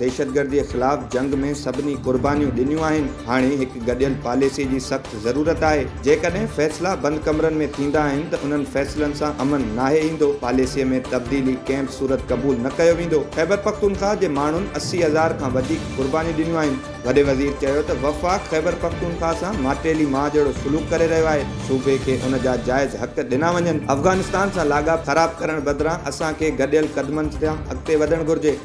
دهشتگردي خلاف جنگ ۾ سڀني قربانيون ڏنيون آهن، هاڻي هڪ گڏيل پاليسي جي سخت ضرورت آهي، جيڪڏهن فيصلا بند ڪمرن ۾ ٿيندا آهن ته انهن فيصلن سان امن ناهي ايندو، پاليسي ۾ تبديلي ڪنهن به صورت قبول نه ڪيو ويندو، خيبرپختونخواهه جي ماڻهن اسي هزار کان وڌيڪ قربانيون ڏنيون آهن. وڏي وزير چيو ته وفاق خيبرپختونخواهه سان ماٽيلي ماء جهڙو سلوڪ ڪري رهيو آهي، صوبي کي ان جا جائز حق ڏنا وڃن، افغانستان سان لاڳاپا خراب ڪرڻ بدران اسان کي گڏيل قدمن سان اڳتي وڌڻ گهرجي.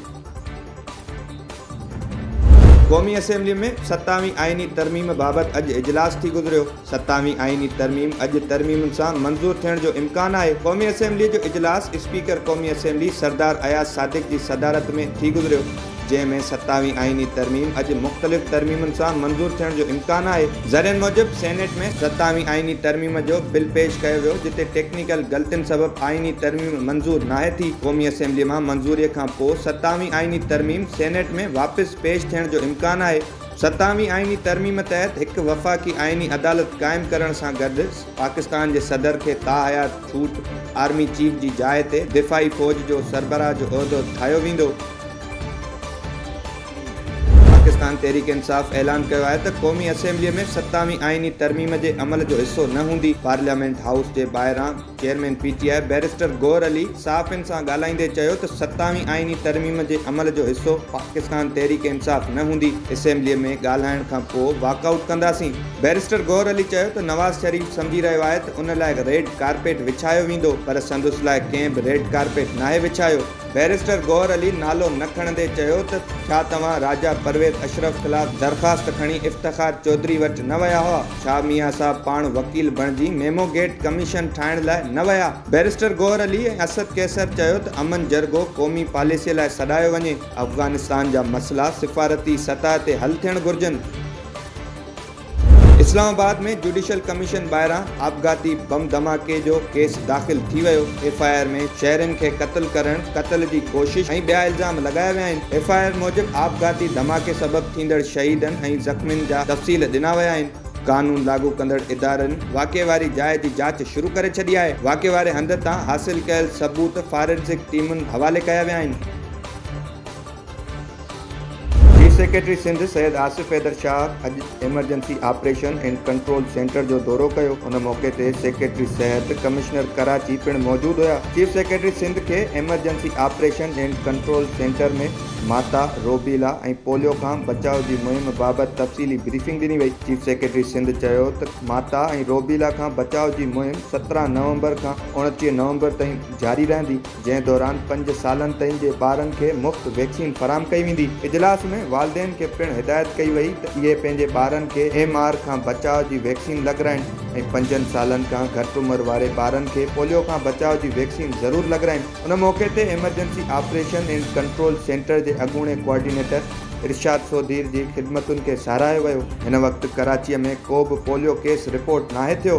قومي اسيمبلي ۾ ستاوين آئيني ترميم بابت اڄ اجلاس ٿي گذريو، ستاوين آئيني ترميم اڄ ترميمن سان منظور ٿيڻ جو امڪان آهي، قومي اسيمبلي جو اجلاس اسپيڪر قومي اسيمبلي سردار اياز صادق جي صدارت ۾ ٿي گذريو، جنهن ۾ ستاوين آئيني ترميم اڄ مختلف ترميمن سان منظور ٿيڻ جو امڪان آهي. ذريعن موجب سينيٽ ۾ ستاوين آئيني ترميم جو بل پيش ڪيو ويو، جتي ٽيڪنيڪل ٽيڪنيڪل غلطين سبب آئيني ترميم منظور ناهي ٿي، قومي اسيمبلي مان منظوري کان پوء ستاوين آئيني ترميم سينيٽ ۾ واپس پيش ٿيڻ جو امڪان آهي، ستاوين آئيني ترميم تحت هڪ وفاقي آئيني عدالت قائم ڪرڻ سان گڏ پاڪستان جي صدر کي تاحيات ڇوٽ آرمي چيف جي جاء تي دفاعي فوج جو سربراهه جو عهدو ٺاهيو ويندو. پاڪستان تحريڪ انصاف اعلان ڪيو آهي ته قومي اسيمبلي ۾ ستاوي آئيني ترميم جي عمل جو حصو نه هوندي، پارليامينٽ هائوس جي ٻاهران chairman P T I barrister Gohar Ali صحافين سان ڳالهائيندي چيو ته ستاوي آئيني ترميم جي عمل جو حصو پاڪستان تحريڪ انصاف نه هوندي، اسيمبلي ۾ ڳالهائڻ کان پوء واڪ آئوٽ ڪنداسين، بيرسٽر گوهر علي چيو ته نواز شريف سمجهي رهيو آهي ته ان لاء ريڊ ڪارپيٽ وڇايو ويندو پر سندس لاء ڪنهن به ريڊ ڪارپيٽ ناهي وڇايو. بئريسٽر گوهر علي نالو نه کڻندي چيو ته ڇا توهان راجا پرويز اشرف خلاف درخواست کڻي افتخار چوڌري وٽ نه ويا هئا؟ ڇا ميان صاحب پاڻ وڪيل بڻجي ميمو گيٽ ڪميشن ٺاهڻ لاء نه ويا؟ بئريسٽر گوهر علي ۽ اسد قيصر چيو ته امن جرڳو قومي پاليسيء لاء سڏايو وڃي، افغانستان جا مسئلا سفارتي سطح تي حل ٿيڻ گهرجن. اسلام آباد ۾ جوڊيشل ڪميشن ٻاهران آپگهاتي بم ڌماڪي جو ڪيس داخل ٿي ويو، ايف آء آر ۾ شهرين کي قتل ڪرڻ، قتل جي ڪوشش ۽ ٻيا الزام لڳايا ويا آهن، ايف آء آر موجب آپگهاتي ڌماڪي سبب ٿيندڙ شهيدن ۽ زخمين جا تفصيل ڏنا ويا آهن. قانون لاڳو ڪندڙ ادارن واقعي واري جاء جي جاچ شروع ڪري ڇڏي آهي، واقعي واري هنڌ تان حاصل ڪيل ثبوت فارنزڪ ٽيمن حوالي ڪيا ويا آهن. چيف سيڪريٽري سنڌ سيد آصف حيدر شاهه اڄ emergency operation and control centre جو دورو ڪيو، ان موقعي تي سيڪريٽري صحت، ڪمشنر ڪراچي پڻ موجود هيا، چيف سيڪريٽري سنڌ کي emergency operation and control centre ۾ ماتا، روبيلا ۽ پوليو کان بچاء جي مهم بابت تفصيلي بريفنگ ڏني وئي، چيف سيڪريٽري سنڌ چيو ته ماتا ۽ روبيلا کان بچاء جي مهم سترهن نومبر کان اوڻٽيهه نومبر تائين جاري رهندي. جنهن دوران پنج سالن تائين جي ٻارن کي مفت ويڪسين فراهم ڪئي ويندي، اجلاس ۾ والدين کي پڻ هدايت ڪئي وئي ته اهي پنهنجي ٻارن کي ايم آر کان بچاء جي ويڪسين لڳرائن ۽ پنجن سالن کان گهٽ عمر واري ٻارن کي پوليو کان بچاء جي ويڪسين ضرور لڳرائن ان موقعي تي emergency operation and control centre جي اڳوڻي ڪوآرڊينيٽر ارشاد سوڌير جي خدمتن کي ساراهيو ويو. هن وقت ڪراچيء ۾ ڪو به پوليو ڪيس رپورٽ ناهي ٿيو.